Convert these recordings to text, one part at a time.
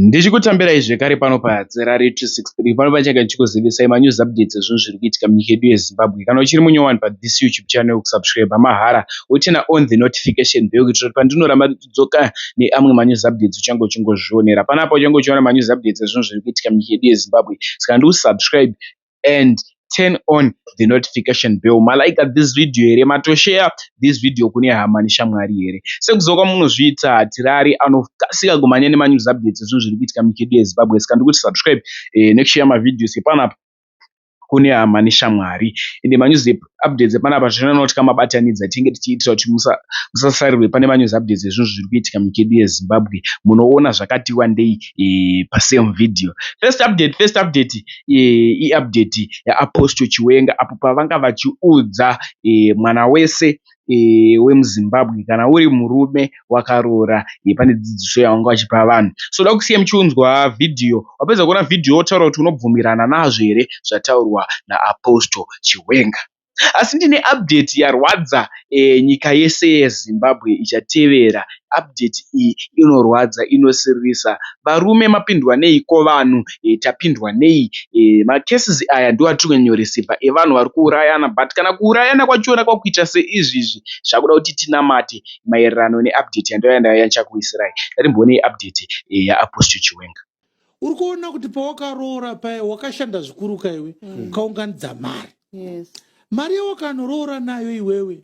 Ndichikutambirai zvekare pano paZerari 263 pano pachange ndichikuzivisai manews updates ezvinhu zviri kuitika munyika yedu yeZimbabwe. Kana uchiri munyowani pathis YouTube channel kusubscriber mahara woturner on the notification bell kuitira kuti pandinoramba ndichidzoka neamwe manews updates uchange uchingozvionera. Panapa uchange uchiona manews updates ezvinhu zviri kuitika munyika yedu yeZimbabwe saka ndikusubscribe and turn on the notification bell ma liker this video here mato share this video kune hama neshamwari here sekuziva kwamunozviita hatirari anokasika kumhanya nema news updates ezvinhu zviri kuitika munyika yedu yezimbabwe saka ndikuti subscribe eh, nekushare mavideos epanapa kune hama neshamwari ende manyuzepa update dzepanapa zvinonotya mabatanidza tinge tichiitira kuti musasarirwe pane manews update dzezvinhu zviri kuitika munyika yedu yezimbabwe munoona zvakati wandei e, pasame video first update first update e, iupdate yaapostle chiwenga apo pavanga vachiudza e, mwana wese wemuzimbabwe kana uri murume wakaroora iyi pane dzidziso yawanga wachipa vanhu so ndoda kusiya muchiunzwa video wapedza kuona video wotaura kuti unobvumirana nazvo here zvataurwa naapostle chiwenga asi ndine update yarwadza e, nyika yese yezimbabwe ichatevera update iyi inorwadza inosiririsa varume mapindwa nei ko vanhu e, tapindwa nei e, macases aya ndiwo atiri kunyanya kurisiva evanhu vari kuurayana but kana kuurayana kwachona kwakuita seizvizvi zvakuda kuti tinamate maererano neupdate yandaiva nayo yandichakuisirai. Ndatimbooneyi update yaApostle Chiwenga. Uri kuona kuti pawakaroora paye wakashanda zvikuru ka iwe mm. ukaunganidza mari yes. mari yawakanoroora nayo iwewe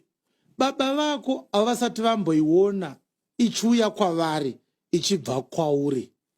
baba vako havasati vamboiona ichiuya kwavari ichibva kwauri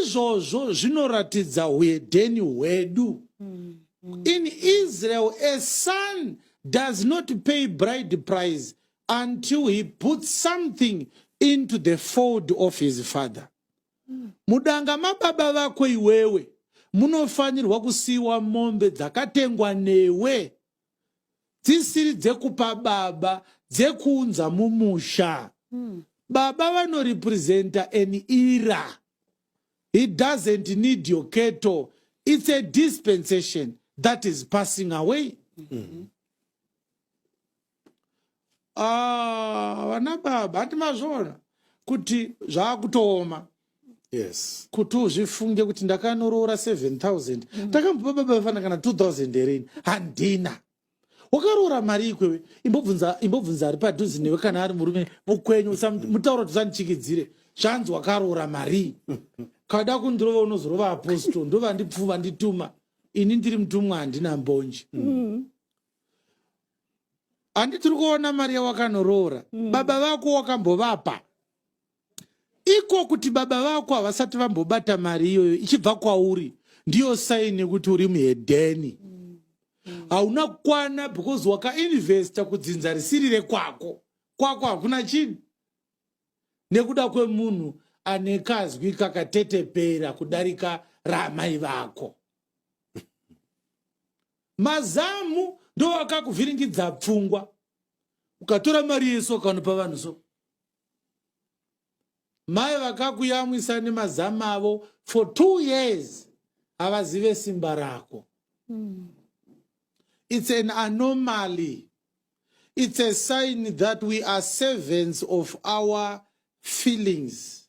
izvozvo zvinoratidza huedheni hwedu mm -hmm. in israel a son does not pay bride price until he puts something into the fold of his father mm. mudanga mababa vako iwewe munofanirwa kusiyiwa mombe dzakatengwa newe dzisiri dzekupa baba dzekuunza mumusha mm. baba vanorepresenta an era he doesn't need your keto it's a dispensation that is passing away mm -hmm. Ah, vana baba hati mazviona kuti zvaakutooma yes kuti uzvifunge kuti ndakanoroora 7000 mm. ndakambopa baba vefana kana 2000 here ini handina wakaroora mari ikwewe imbobvunza imbobvunza ari padhuzi newe kana ari murume mukwenyu mutauro tisandichikidzire zvanzi wakaroora marii kada kundirova unozorova apostol ndovandipfuva ndituma ini ndiri mutumwa handina mbonje mm. handi tiri kuona mari yawakanoroora mm. baba vako wakambovapa iko kuti baba vako havasati vambobata mari iyoyo ichibva kwauri ndiyo saini yekuti uri muhedheni mm. mm. hauna mm. kukwana because wakainvesta kudzinza risiri rekwako kwako hakuna chini nekuda kwemunhu ane kazwi kakatetepera kudarika raamai vako mazamu ndo akakuvhiringidza pfungwa ukatora mari yeso ukanopa vanhu so mai vakakuyamwisa nemazamu avo for two years havazive simba rako mm. it's an anomaly it's a sign that we are servants of our feelings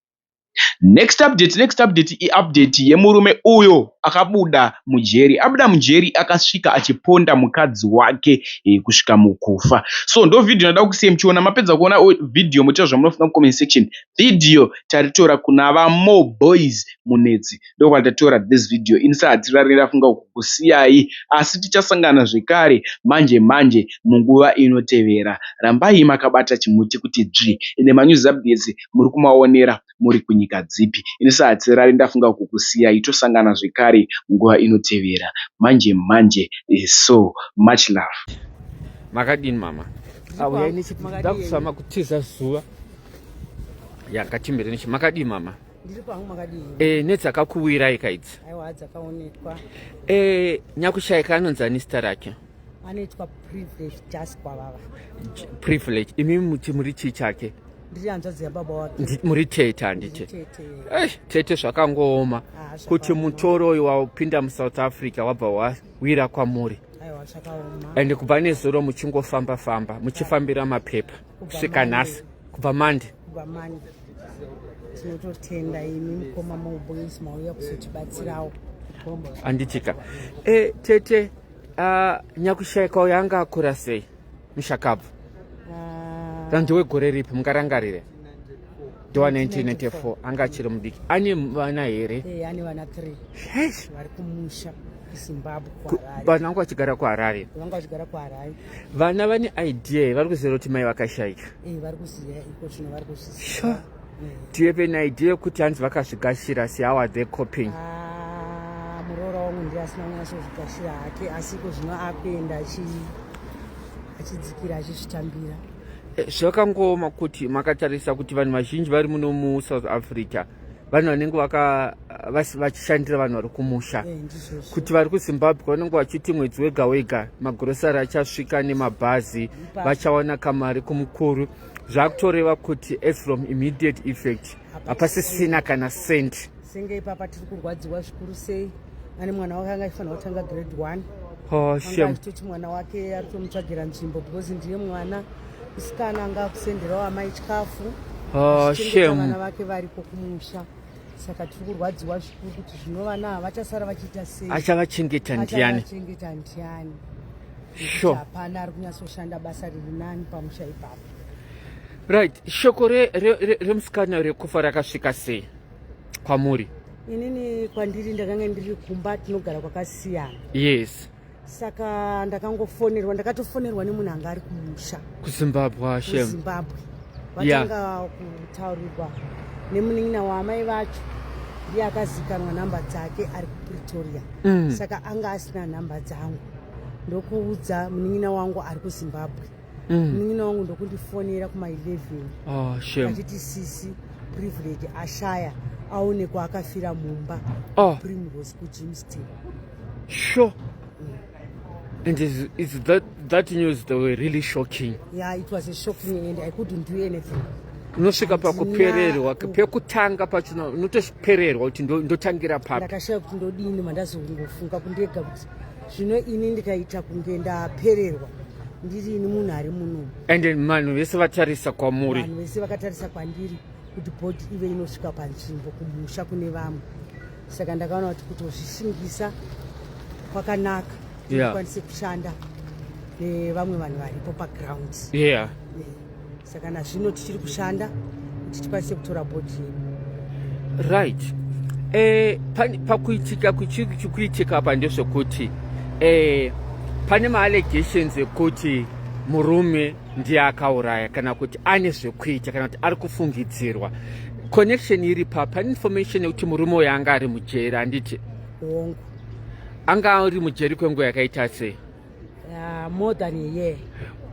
Next update next update iupdate yemurume uyo akabuda mujeri. Abuda mujeri akasvika achiponda mukadzi wake eh, kusvika mukufa. So ndo video ndoda kusiya muchiona. Mapedza kuona video motaura zvamunofunga mucomment section. Video taritora kuna vamo boys munetsi. ndokwatatoyora this video ini sahatirari ndafunga kukusiyai asi tichasangana zvekare manje manje munguva inotevera rambai makabata chimuti kuti dzvi ende manews updates muri kumaonera muri kunyika dzipi ini sahatirari ndafunga kukusiyai tosangana zvekare munguva inotevera manje manje eh, so much love makadini mama auyai nechipdakuzama kutiza zuva yakatimbire nechi makadii mama Ndiri pangu makadii? Eh, nedzakakuwirai kaidzi? Aiwa dzakaonekwa. Eh, nyakushaika anonzi ani zita rake? Anoitwa privilege just kwavava. Privilege. Imi muti muri chii chake? Ndiri hanzvadzi yababa wake. Muri tete handiti? Tete. Eh, tete zvakangooma. Ah, Kuti mutoro uyu wapinda muSouth Africa wabva wawira kwamuri. Aiwa zvakaoma. Ende kubva nezuro muchingofamba famba, muchifambira mapepa. kusvika nhasi kubva mandi kubva mandi tinototenda imi mukoma mauboys mauya kuzotibatsirawo anditika e eh, tete uh, nyakushaika uyo anga akura sei mushakabvu uh, ah. ndiwe gore ripi mungarangarire ndiwa 1994 anga achiri mudiki ane vana here eh, ane vana 3 vari kumusha kuzimbabwe vana vanga vachigara kuharare vanga vachigara kuharare vana vane idea vari kuziva kuti mai vakashaika eh, vari kuziva iko chino vari kuzviziva eh. tiwe pe naidea yekuti hanzi vakazvigashira si how are they coping ah, muroora wangu ndiye asina kunyasozvigashira hake asi iko zvino akuenda achidzikira achizvitambira eh, zvakangooma kuti makatarisa kuti vanhu vazhinji vari muno musouth africa vanhu vanenge vachishandira vanhu vari kumusha eh, kuti vari kuzimbabwe vanenge vachiti mwedzi wega wega magurosari achasvika nemabhazi vachawana kamari kumukuru zvakutoreva kuti as from immediate effect hapasisina kana cent senge ipapa tiri kurwadziwa zvikuru sei ane mwana wake anga aifanira kutanga grade one oh, achitoti mwana wake ari kutomutsvagira nzvimbo because ndiye mwana Musikana anga akusenderawo amai chikafu. Oh, shame. Vana vake variko kumusha. Saka tiri kurwadziwa zvikuru kuti zvino vana ava vachasara vachiita sei? Achavachengeta ndiani? Achavachengeta ndiani? Sure. Hapana ari kunyatsoshanda basa riri nani pamusha ipapo. Right, shoko remusikana re, re, rekufa rakasvika sei kwamuri? Inini kwandiri ndakanga ndiri kumba tinogara kwakasiyana. Yes. saka ndakangofonerwa ndakatofonerwa nemunhu anga ari kumusha kuzimbabwe kuzimbabwe vatanga kutaurirwa nemunin'ina waamai vacho ndiye akazikanwa nhamba dzake ari kupretoria mm. saka anga asina nhamba dzangu ndokuudza munin'ina wangu ari kuzimbabwe mm. munin'ina wangu ndokundifonera kuma 11 ah, achiti sisi privilege ashaya aonekwa akafira mumba oh. primrose kujimston Sure. And is, is that, that news that were really shocking? Yeah, it was a shocking and I couldn't do anything. unosvika pakupererwa pekutanga pachino unotopererwa kuti ndotangira papi ndakashaya kuti ndodini mandazongofunga kundega kuti zvino ini ndikaita kunge ndapererwa ndirini munhu ari muno and vanhu vese vatarisa kwamuri vanhu vese vakatarisa kwandiri kuti bhodhi ive inosvika panzvimbo kumusha kune vamwe saka ndakaona kuti kutozvishingisa kwakanaka tikwanise yeah. kushanda nevamwe vanhu varipo paground yeah. yeah. saka nazvino tichiri kushanda kuti tikwanise kutora bhodhi yedu right eh, pakuitika kuitika apa ndezvekuti eh, pane maallegations ekuti murume ndiye akauraya kana kuti ane zvekuita kana kuti ari kufungidzirwa connection iri pa pane information yekuti murume uyo anga ari mujeri handiti hongu anga ari mujeri kwenguva yakaita sei uh, more than a year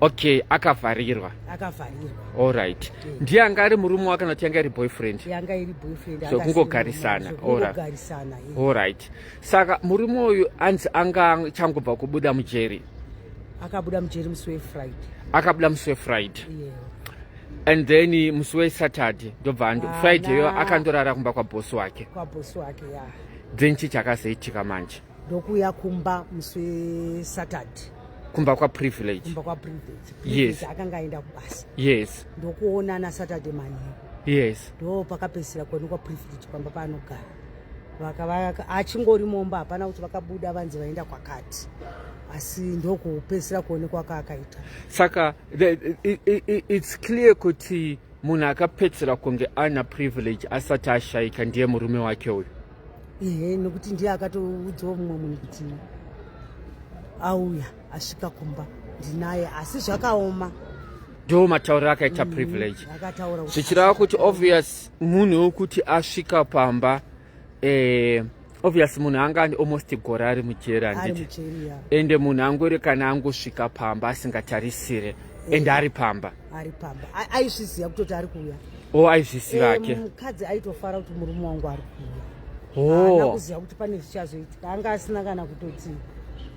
okay akavharirwa akavharirwa all right mm. ndiye anga ari murume wa kana kuti yanga iri boyfriend yanga iri boyfriend so kungogarisana kungogarisana all right Saka murume uyu anzi anga changobva kubuda mujeri. Akabuda mujeri musi weFriday. Akabuda musi weFriday. Yeah. And then musi weSaturday ndobva ando ah, Friday yo akandorara kumba kwa boss wake. Kwa boss wake ya. Yeah. Then chi chakazoitika manje. Ndokuya kumba musi weSaturday. Kumba kwa privilege. Kumba kwa privilege. Yes. Akanga aenda kubasa. Yes. Ndokuona na Saturday manheru. Yes. Ndo pakapesera kwenu kwa privilege pamba panogara. achingori momba hapana kuti vakabuda vanzi vaenda kwakati asi ndokupedzisira kuonekwa kaakaita saka its clear kuti munhu akapedzisira kunge ana privilege asati ashaika ndiye murume wake uyu ehe nekuti ndiye akatoudzawo mumwe munhu kuti auya asvika kumba ndinaye asi zvakaoma ndo matauriro akaita mm, privilege zvichireva kuti obvious munhu wekuti asvika pamba eh, obvious munhu anga ane almost gore ari mujeri handiti ende munhu angori kana angosvika pamba asingatarisire eh. ende ari pamba ari pamba aizviziva kutoti ari kuuya o oh, aizviziva eh, ake mukadzi aitofara kuti murume wangu ari kuuya oh. kuziva kuti pane zvichazoitika anga asina kana kutoti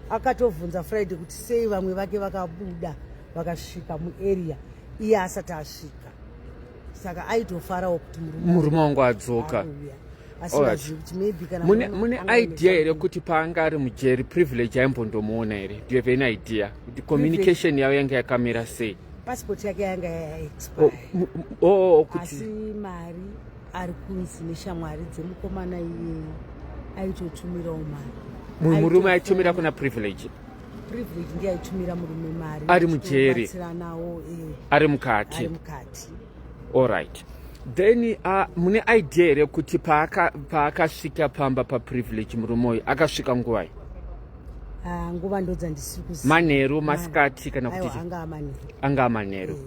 akatovhunza friday kuti sei vamwe vake vakabuda vakasvika muarea iye asati asvika saka aitofarawo kuti murume wangu adzoka mune idea here kuti paanga ari mujeri privilege aimbondomuona here do you have any idea kuti communication yavo yanga yakamira sei passport yake yanga yaexpire oh, oh, oh, asi mari ari kunzi neshamwari dzemukomana iyeyo aitotumirawo mari mumwe murume aitumira kuna privilege privilege ndiye aitumira murume mari ari mujeri eh. ari mukati allright then uh, mune idea here kuti paakasvika pa pamba paprivilege murume uyu akasvika nguvai ah, nguva ndodzandisiri kuziva manheru masikati kana kuti anga amanheru eh.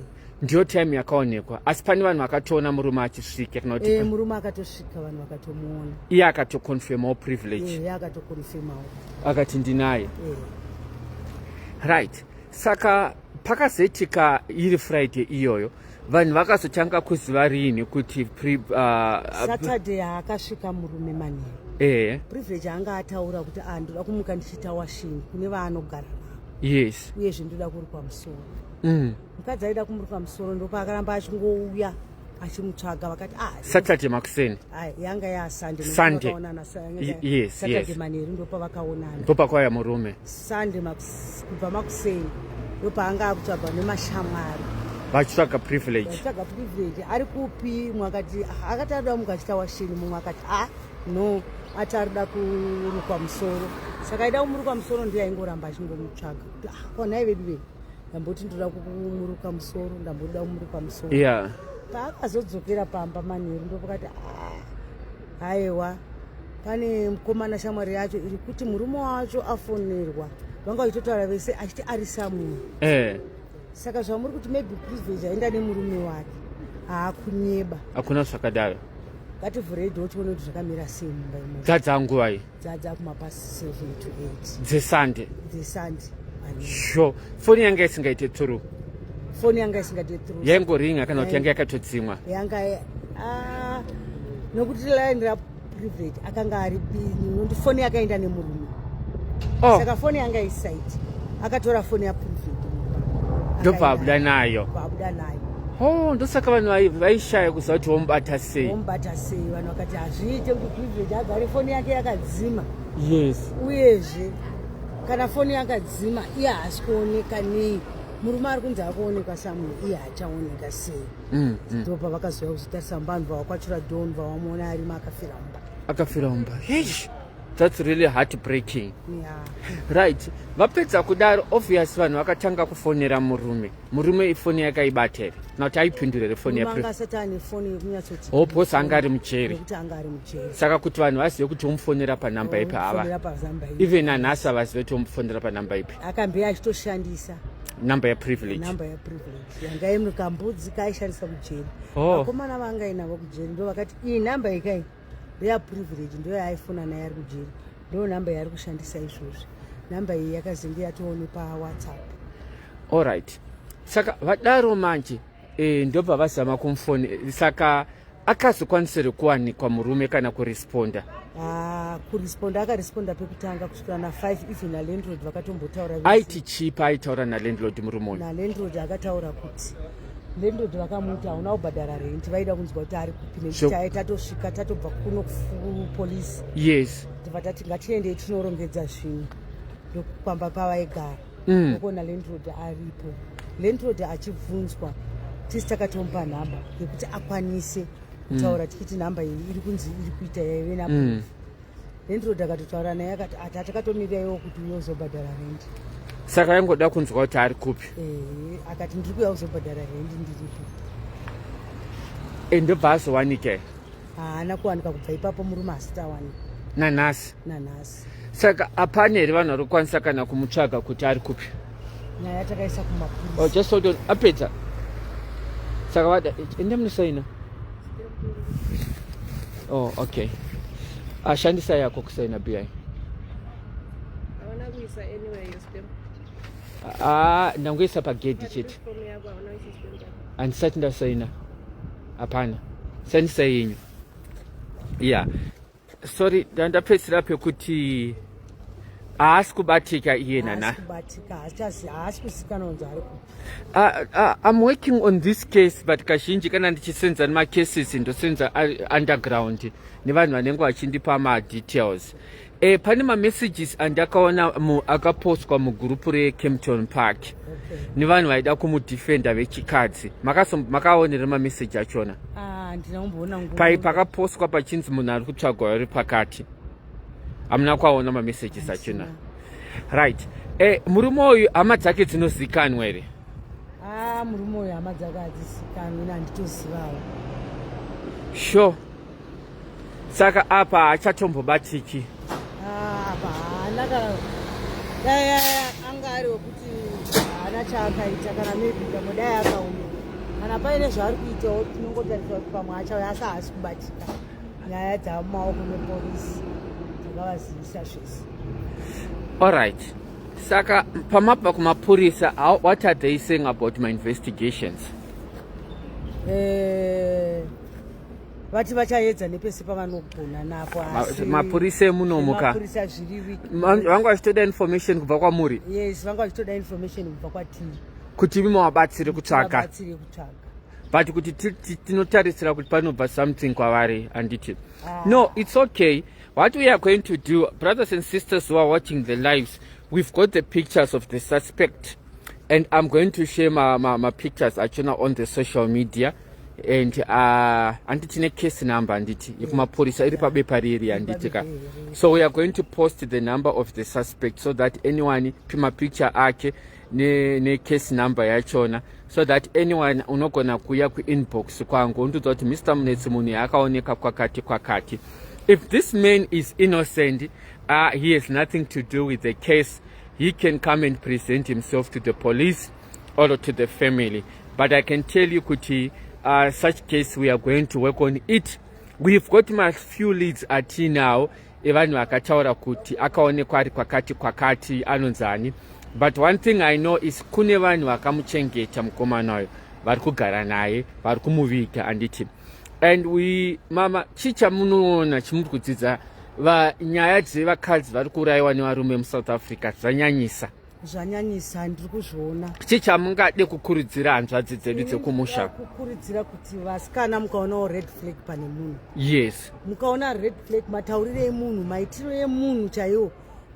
ndiyo time yakaonekwa asi pane vanhu vakatoona murume achisvika kana kuti e, murume akatosvika vanhu vakatomuona iye akatoconfirmawo privilege e, akatoconfirmawo akati ndinaye e. right saka pakazoitika iri friday iyoyo vanhu vakazotanga kuziva riini kuti uh, saturday akasvika murume manheru e. privilege anga ataura kuti andoda ah, kumuka ndichiita washingi kune vaanogara navo yes uyezve ndoda kuri pamusoro mm. mukadzi aida kumuruka musoro ndopaakaramba achingouya achimutsvaga vakati ah, saturday makuseni ah, yanga yasundaysaturday manheru ndopavakaonana ndopakauya murume sunday kubva makuseni ndopaanga akutsvagwa nemashamwari vachitsvaga privilege vachitsvaga privilege ari kupi mumwe akati ah, akati arida mumwe achita washini mumwe akati a ah, no ati arida kurukwa musoro saka aida kumurukwa musoro ndiye aingoramba achingomutsvaga kuti ah, konai vedu vei ndamboti ndoda kumuruka musoro ndamboda kumuruka musoro yeah. paakazodzokera pamba manheru ndopakati ah, haiwa pane mukomana shamwari yacho iri kuti murume wacho afonerwa vanga vachitotaura vese achiti ari samuel eh. saka zvamuri kuti maybe privilege aenda nemurume wake haakunyeba hakuna zvakadaro ngativhurei dho tione kuti zvakamira sei mumba imogadza nguva iyi dzadza kuma past 7 to 8 dzesande dzesande sho foni yanga isingaite through foni yanga isingaite through yaingoringa kana kuti yanga yakatodzimwa yanga ah, nokuti line ra private akanga ari nokuti foni yakaenda nemurume oh. saka foni yanga isaiti akatora foni yaprivate ndobva abuda nayo abuda nayo ho ndosaka vanhu vaishaya kuziva kuti womubata sei womubata sei vanhu vakati ah, zviite kuti privilege agare foni yake yakadzima yes uyezve kana foni yakadzima iye haasi kuoneka nei murume ari kunzi akuonekwa samu iye achaoneka sei mm, mm. ndo pavakazoya kuzotarisa mumba vanhu vavakwachura don vavamuona arimo akafira mumba akafira mumba yes that's really heart breaking yeah. right vapedza kudaro obvious vanhu vakatanga kufonera murume murume ifoni yakaibata here kana kuti aipindura here foni yahoposa anga ari mujeri saka kuti vanhu vazive kuti omufonera panhamba ipi hava even anhasi avazive kuti omufonera panhamba ipi akambe achitoshandisa number ya privilege number ya privilege yanga yemukambudzi kaishandisa kujeri oh. vakomana oh. vangainavo kujeri ndo vakati iyi number ikai real privilege ndo yaaifona naye ari kujeri ndo number yaari kushandisa izvozvi number iyi yakazenge yatoone pawhatsapp allright saka vadaro manje e, ndopavazama kumfoni saka akazokwanisire kuwanikwa murume kana kuresponda ah, kuresponda akaresponda pekutanga kusvikira na5 even nalandlord vakatombotaura aiti chipa aitaura nalandlord murume uyu nalandlord akataura kuti landlord vakamuti hauna kubhadhara rent vaida kunzwa kuti ari kupi nekuti taye tatosvika tatobva kuno kupolice yes tibva tati ngatiendei tinorongedza zvinhu ndokupamba pavaigara mm. okuona landlord aripo landlord achibvunzwa tisi takatomupa nhamba yekuti akwanise kutaura mm. tikiti nhamba iyi iri kunzi iri kuita yaive napo mm. Landlord akatotaura naye akati ati atakatomira iwo kuti uye uzobhadhara rendi. Saka aingoda kunzwa kuti ari kupi? Eh, akati ndiri kuya uzobhadhara rendi ndiripo. Ende bhaso wanike? Haana kuwanika kubva ipapo murume asitawanika. Nanhasi? Nanhasi. Saka hapana here vanhu vari kukwanisa kana kumutsvaga kuti ari kupi? nyaya takaisa kumapurisa oh, just hold on apedza saka vada enda munosaina oh okay ashandisa yako kusaina bi ah, ndangoisa pagedhi chete handisati ndasaina hapana sandisa yenyu ya yeah. sorry ndandapedzisira pekuti haasi kubatika iye nana i'm working on this case but kazhinji kana ndichisenza nemacases ndosenza underground nevanhu vanenge vachindipa madetails e, pane mamessages andakaona akapostwa mugurupu recampton park okay. nevanhu vaida kumudefenda vechikadzi makaonera mamessage achona Ah, pai pakapostwa pachinzi munhu ari kutsvagwa ari pakati hamuna kwaona mamessages achina right e, murume uyu hama dzake dzinozikanwa here ah, murume uyu hama dzake hadzizikanwi nanditozivawo sure saka apa hachatombobatiki ah, apa haana kana dai anga ari wekuti haana chaakaita kana maybe pamwe dai akauma kana paine zvaari kuitawo tinongotarisa kuti pamwe achauya asi haasi kubatika nyaya dzamumaoko mepolisi dzakavazivisa zvese allright saka pamabva kumapurisa what are they saying about my investigations eh, vati vachaedza nepese pavanogona napo asi mapurisa emunomo ka mapurisa zviri wiki vanga vachitoda information kubva kwamuri yes vanga vachitoda information kubva kwatii kuti imi mawabatsire kutsvaga batsire kutsvaga but kuti tinotarisira kuti panobva something kwavari handiti ah. no it's okay what we are going to do brothers and sisters who are watching the lives we've got the pictures of the suspect and i'm going to share my, my, my pictures achona on the social media and uh, anditi tine case number anditi yekumapurisa iri pabepa riri anditi ka so we are going to post the number of the suspect so that anyone pimapicture ake necase ne number yachona so that anyone unogona kuuya kuinbox kwangu undiudza kuti mr munetsi munhu yaakaoneka kwakati kwakati if this man is innocent uh, he has nothing to do with the case he can come and present himself to the police or to the family but i can tell you kuti uh, such case we are going to work on it we've got my few leads atinawo evanhu vakataura kuti akaonekwa ari kwakati kwakati anonzani but one thing i know is kune vanhu vakamuchengeta mukomana uyo vari kugara naye vari kumuviga anditi and we mama chii chamunoona chimuri kudzidza vanyaya dzevakadzi vari kuurayiwa nevarume musouth africa zvanyanyisa zvanyanyisa ndiri kuzviona chii chamungade kukurudzira hanzvadzi dzedu dzekumusha kukurudzira kuti vasikana mukaonawo red flag pane munhu yes mukaona red flag mataurire emunhu maitiro emunhu chaiwo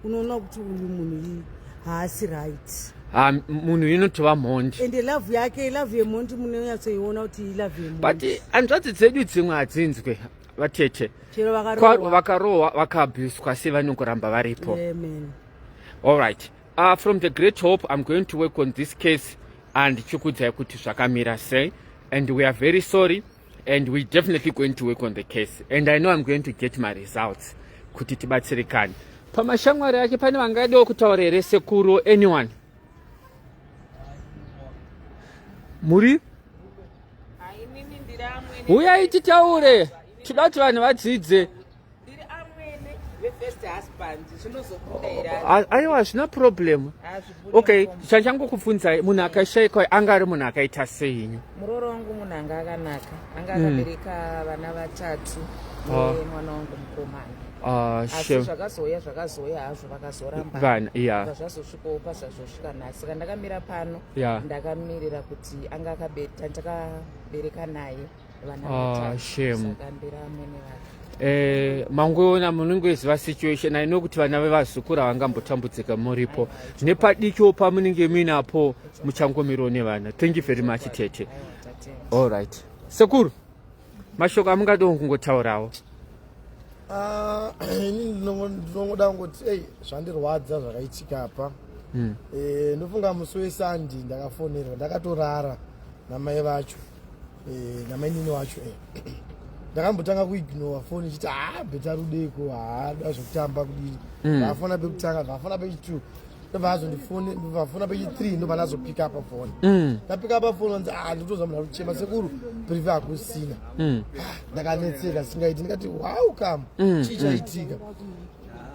unoona kuti uyu munhu iyi haasi right ha munhu inotova mhondi ende lavhu yake lavhu yemhondi munonyatsoiona kuti ilavhu yemhondi but hanzvadzi dzedu dzimwe hadzinzwe vatete vakarohwa vakaabuswa sei vanokuramba varipo yeah, all right uh, from the great hope i'm going to work on this case and chikudzai kuti zvakamira sei and we are very sorry and we definitely going to work on the case and i know i'm going to get my results kuti tibatsirikane pamashamwari ake pane vangaidawo kutaura here sekuru anyone muri huyai titaure tida kuti vanhu vadzidze ndiri amwene vefirst husband zvinozobuda here aiwa hazvina problem okay chachangokufunzai munhu akashaikwa anga ari munhu akaita seinyu murooro wangu munhu anga akanaka anga hmm. akabereka vana vatatu ah. nemwana wangu mukomana ah, asi zvakazouya zvakazouya hazvo vakazorambavana ya zvazosvikawo pazvazosvika nhasi saka ndakamira pano ndakamirira kuti anga akabeta ndakabereka naye Eh, mangoona munongoziva situation aino kuti vana vevazukuru havangambotambudzika muripo nepadikio pamunenge muinapo muchangomirawo nevana thank you very much tete all right sekuru mashoko amungadiwo kungotaurawo ah, ini ndinongoda kungoti ei zvandirwadza zvakaitika apa hmm. eh, ndofunga musi wesandi ndakafonerwa ndakatorara namai vacho eh, namainini wacho eh. ndakambotanga kuignora foni ichiti haa ah, beta rudeko haada ah, zvekutamba kudii mm. vafona pekutanga vafona pechitwo ndovazondivafona pechithree ndobva ndazopika apa foni mm. ndapika apa foni anzi ah, nditoza munhu arikuchema sekuru prive hakusina mm. ndakanetseka singaiti ndikati wow kam chii chaitika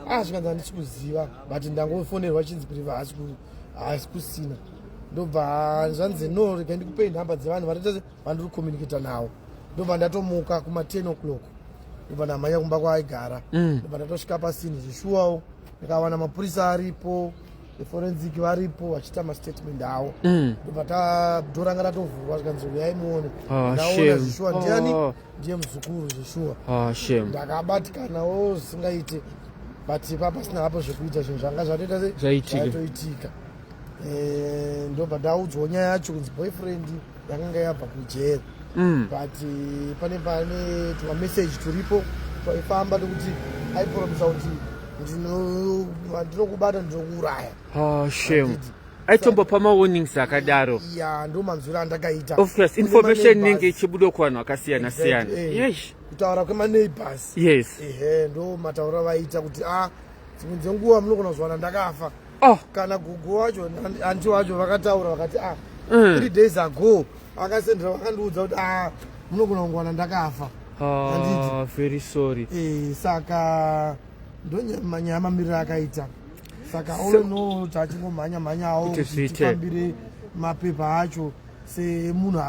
ah zvikanzi handisi kuziva but ndangofonerwa chinzi prive haasi kusina ndobva zvanzi no rega ndikupei nhamba dzevanhu vatoita vandiri kucommunicata nawo ndobva ndatomuka kuma 10 o'clock ndobva ndamhanya kumba kwaaigara mm. ndobva ndatosvika pasini zvishuwawo ndikawana mapurisa aripo eforensic varipo vachiita mastatement awo mm. ndobva tadoranga tatovhurwa zvikanzi uyai muone ah, ndaona zvishuwa ndiani ah. ndiye muzukuru zvishuwa ah, ndakabatikanawo zvisingaite but ipapa sina hapo zvekuita zvinhu zvanga zvatoita zvaitika eh, ndobva ndaudzwawo nyaya yacho kunzi boyfriend yakanga yabva kujeri mm. but eh, pane pane tumamessage turipo twaifamba nekuti aipromisa kuti ndinokubata ndinokuuraya ah, shame aitombopa mawarnings akadaro ya ndo manzwiro andakaita of course information inenge ichibuda kuvanhu vakasiyana siyana eh, yes kutaura kwemaneighbors yes ehe ndo mataura vaita kuti a ah, dzimwe dzenguva munogona kuzwana ndakafa oh. kana gugu wacho anti wacho vakataura vakati ah mm. three days ago akasendera vakandiudza kuti ah munogona kungwana ndakafa ah, very sorry e, saka ndonyamanyaya mamiriro akaita saka all in all tachingomhanya mhanyawo kuti tifambire mapepa acho semunhu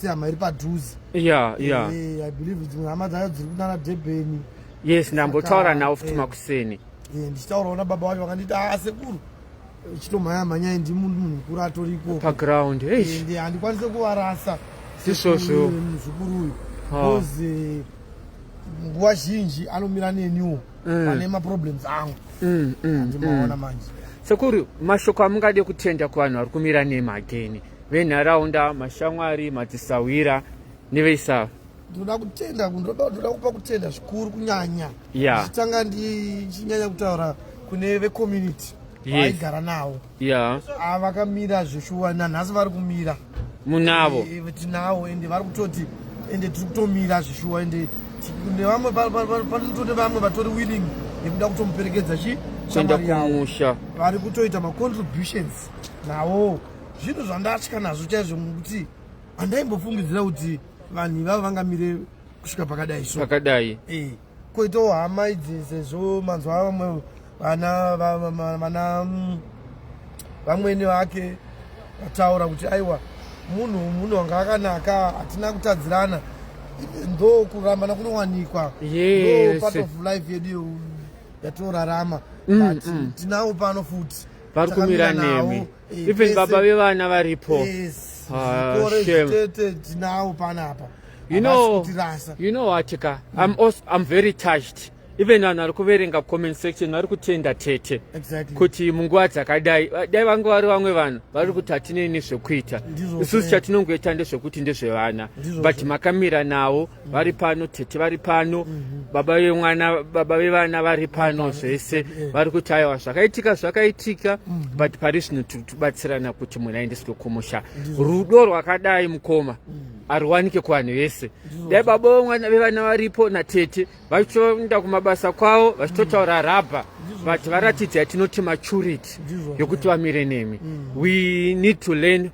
sehama iri padhuze ya ya eh, i believe dzimwe hama dzayo dziri kunana debeni yes ndambotaura nawo futi makuseni eh, ndichitaurawo nababa vacho vakanditi aa ah, sekuru chitomhaya mhanyai ndi munhu munhu mukuru atori ikoko paground ende eh, handikwanise kuvarasa isvozvo muzukuru uyu bcause eh, nguva zhinji anomira neniwo mm. pane maproblems angu mm, mm, andimaona manje sekuru mashoko amungade kutenda kuvanhu vari kumira nemi again venharaunda mashamwari madzisahwira Ndivei sawa. Ndoda kutenda ndoda ndoda kupa kutenda zvikuru kunyanya. Yeah. Chitanga ndichinyanya kutaura kune ve community. Yes. Vaigara nawo. Yeah. Ah vakamira zveshuwa nanhasi vari kumira. Munavo. E, eh, tinawo ende vari kutoti ende tiri kutomira zveshuwa ende nevamwe panotone vamwe vatori willing yekuda kutomuperekedza chi kuenda kumusha vari kutoita macontributions nawo zvinhu zvandatya nazvo chaizvo mukuti handaimbofungidzira kuti vanhu ivavo vangamire kusvika pakadai so pakadai eh koitawo hama idzi sezvo manzwa vamwe vana vana mm, vamwene vake vataura kuti aiwa munhu munhu wanga akanaka hatina kutadzirana ndo kurambana kunowanikwa yes. part of life yedu yatorarama mm, but mm. tinawo pano futi pari kumira nemi even baba vevana varipo yes. ah, tinawo panapa you know, you know what ka mm. I'm, also, I'm very touched even vanhu vari kuverenga comment section vari kutenda tete exactly. kuti munguva dzakadai dai vange vari vamwe vanhu vari kuti hatinei nezvekuita isusu chatinongoita ndezvekuti ndezvevana but makamira nawo vari pano tete vari pano mhm. baba vemwana baba vevana vari pano zvese vari kuti aiwa zvakaitika zvakaitika mhm. but pari zvino tiri kubatsirana kuti mwana aendeswe kumusha rudo rwakadai mukoma mhm. ariwanike kuvanhu vese dai baba vemwana vevana varipo natete vachitoenda kumabasa kwavo vachitotaura rabha but varatidza yatinoti maturity yokuti vamire nemi we need to learn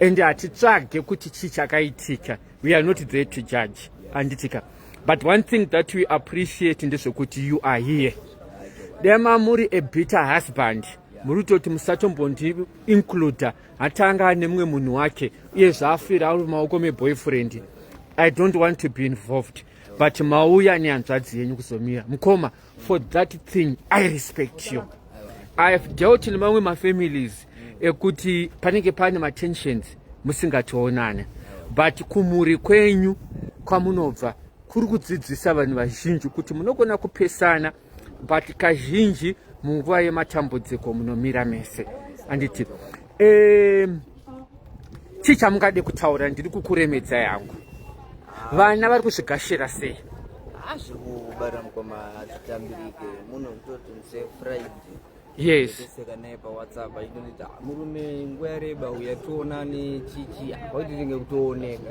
and hatitsvage kuti chii chakaitika we are not there to judge handitika but one thing that we appreciate ndezvekuti you are here dema muri a bitter husband muri kutoti musatombondi includa hatanga ane mumwe munhu wake uye zvaafira ari mumaoko meboyfriend i don't want to be involved but mauya nehanzvadzi yenyu kuzomira mukoma for that thing i respect you i have dealt nemamwe mafamilies ekuti panenge pane matensions musingatoonane but kumhuri kwenyu kwamunobva kuri kudzidzisa vanhu vazhinji kuti munogona kupesana but kazhinji munguva yematambudziko munomira mese anditi um, chii chamungade kutaura ndiri kukuremedza yangu vana vari kuzvigashira sei hazviri kubara mukoma hazvitambirike munhu kutoti mse friday yeseka naye pawhatsapp aitoita murume nguva yareba uya tionane chichi kwaititenge kutooneka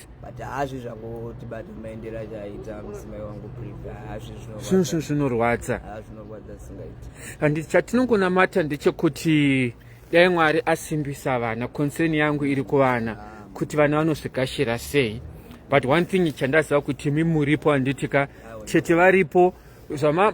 but hazvi zvangoti but maendera chaita mudzimai wangu priva hazvi zvinorwadza zvinorwadza singaiti and chatinongonamata ndechekuti dai mwari asimbisa vana concern yangu iri kuvana kuti vana vanozvikashira sei but one thing chandaziva kuti mi muripo handiti ka tete varipo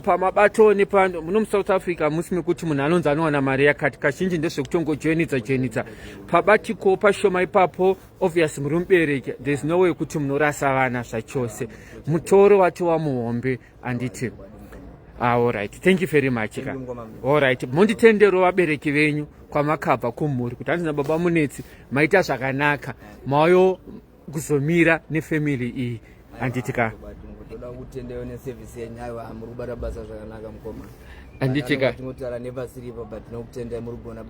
pamabato nepano muno musouth africa musi mekuti munhu anonzi anowana mari yakati kazhinji ndezvekutongojoinidza joinidza pabatiko pashoma ipapo obvious muri mubereki there's no way kuti munorasa vana zvachose mutoro wacho wamuhombe anditi ah, allright thank you very much ka allright monditendero vabereki venyu kwamakabva kumhuri kuti handina baba munetsi maita zvakanaka mayo kuzomira nefamily iyi handiti ka toda kutendeyo neservice yenyu aiwa muri kubata basa zvakanaka mukoma handiti ka tinotara nepasiripo but tinokutendai muri kugona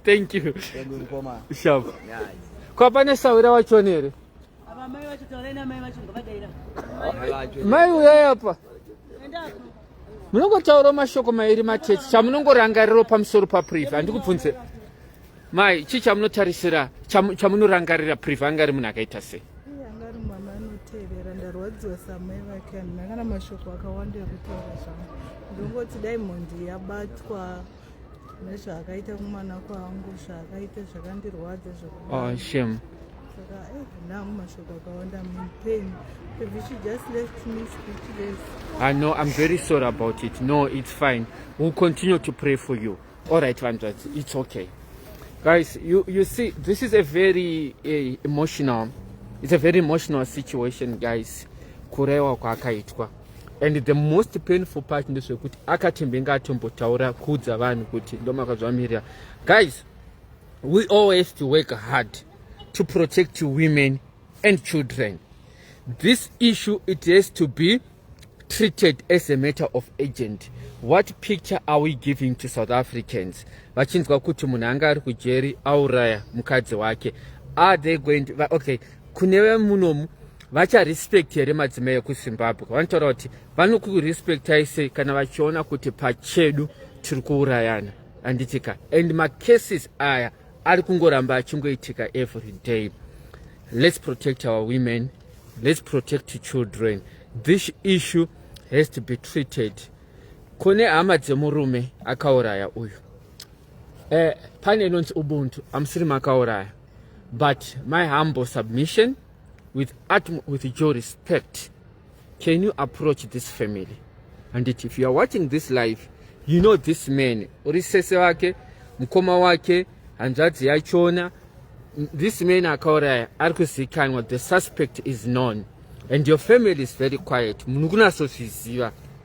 thank you thank you mukoma shop kwa pane sawira wachoni here mai uyai apa munongotaura mashoko mairi matechi chamunongorangariro pamusoro papriva handikubvunze Mai, chii chamunotarisira chamunorangarira Priva anga ari munhu akaita sei? ndarwadziwa samai vake handina kana mashoko akawanda ekutaura zvangu ndongoti dai mhondi yabatwa nezvaakaita kumwana kwangu zvaakaita zvakandirwadza zvakashem oh, saka eh, ndangu mashoko akawanda mupain she just left me speechless i ah, know i'm very sorry about it no it's fine we'll continue to pray for you All right, Vandrats, it's okay. Guys, you, you see, this is a very uh, emotional, it's a very emotional situation, guys. Kurewa kwakaitwa. And the most painful part ndezvekuti akatembenga atombotaura kuudza vanhu kuti ndomakazvamirira. Guys, we always to work hard to protect women and children. This issue, it has to be treated as a matter of agent what picture are we giving to south africans vachinzwa kuti munhu anga ari kujeri auraya mukadzi wake are they going to, okay kune vemunomu vacharespect here madzimai ekuzimbabwe vanotaura kuti vanokurespectai sei kana vachiona kuti pachedu tiri kuurayana anditika and macases aya ari kungoramba achingoitika every day let's protect our women let's protect children this issue has to be treated kune hama dzemurume akauraya uyu eh, pane inonzi ubuntu amusiri makauraya but my humble submission with utm with your respect can you approach this family and it, if you are watching this live you know this man uri sese wake mukoma wake hanzvadzi yachona this man akauraya ari kuzikanwa the suspect is known and your family is very quiet munhu kunasozviziva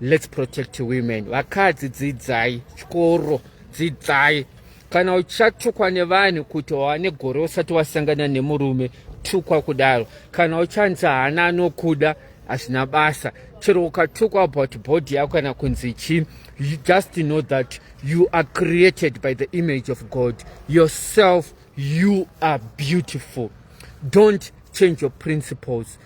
Let's protect women. Vakadzi dzidzai chikoro, dzidzai. Kana uchatukwa nevanhu kuti wawane gore usati wasangana nemurume, tukwa kudaro. Kana uchanzi haana anokuda, hazvina basa. Chero ukatukwa about body yako kana kunzi chii, you just know that you are created by the image of God. Yourself, you are beautiful. Don't change your principles.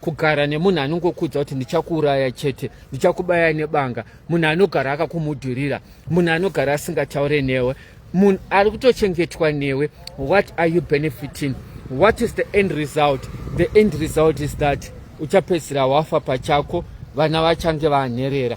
kugara nemunhu anongokuudza kuti ndichakuuraya chete ndichakubaya nebanga munhu anogara akakumudhurira munhu anogara asingataure newe munhu ari kutochengetwa newe what are you benefiting what is the end result the end result is that uchapedzisira wafa pachako vana vachange vanherera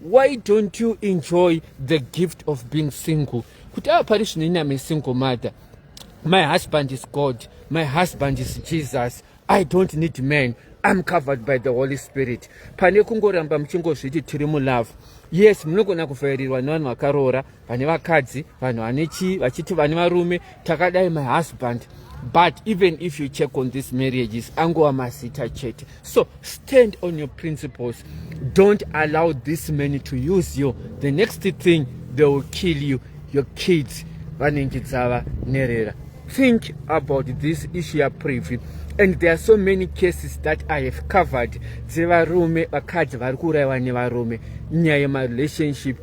why don't you enjoy the gift of being single kuti ava pari zvino iname single mother my husband is god my husband is jesus i don't need man i'm covered by the holy spirit pane kungoramba muchingozviti tiri mulove yes munogona kuvhairirwa nevanhu vakaroora vane vakadzi vanhu vane chii vachiti vane varume takadai my husband but even if you check on this marriages angova mazita chete so stand on your principles don't allow this man to use you the next thing they will kill you your kids vanenge dzava nerera think about this issue ya privy and there are so many cases that i have covered dzevarume vakadzi vari kuurayiwa nevarume nyaya yemarelationship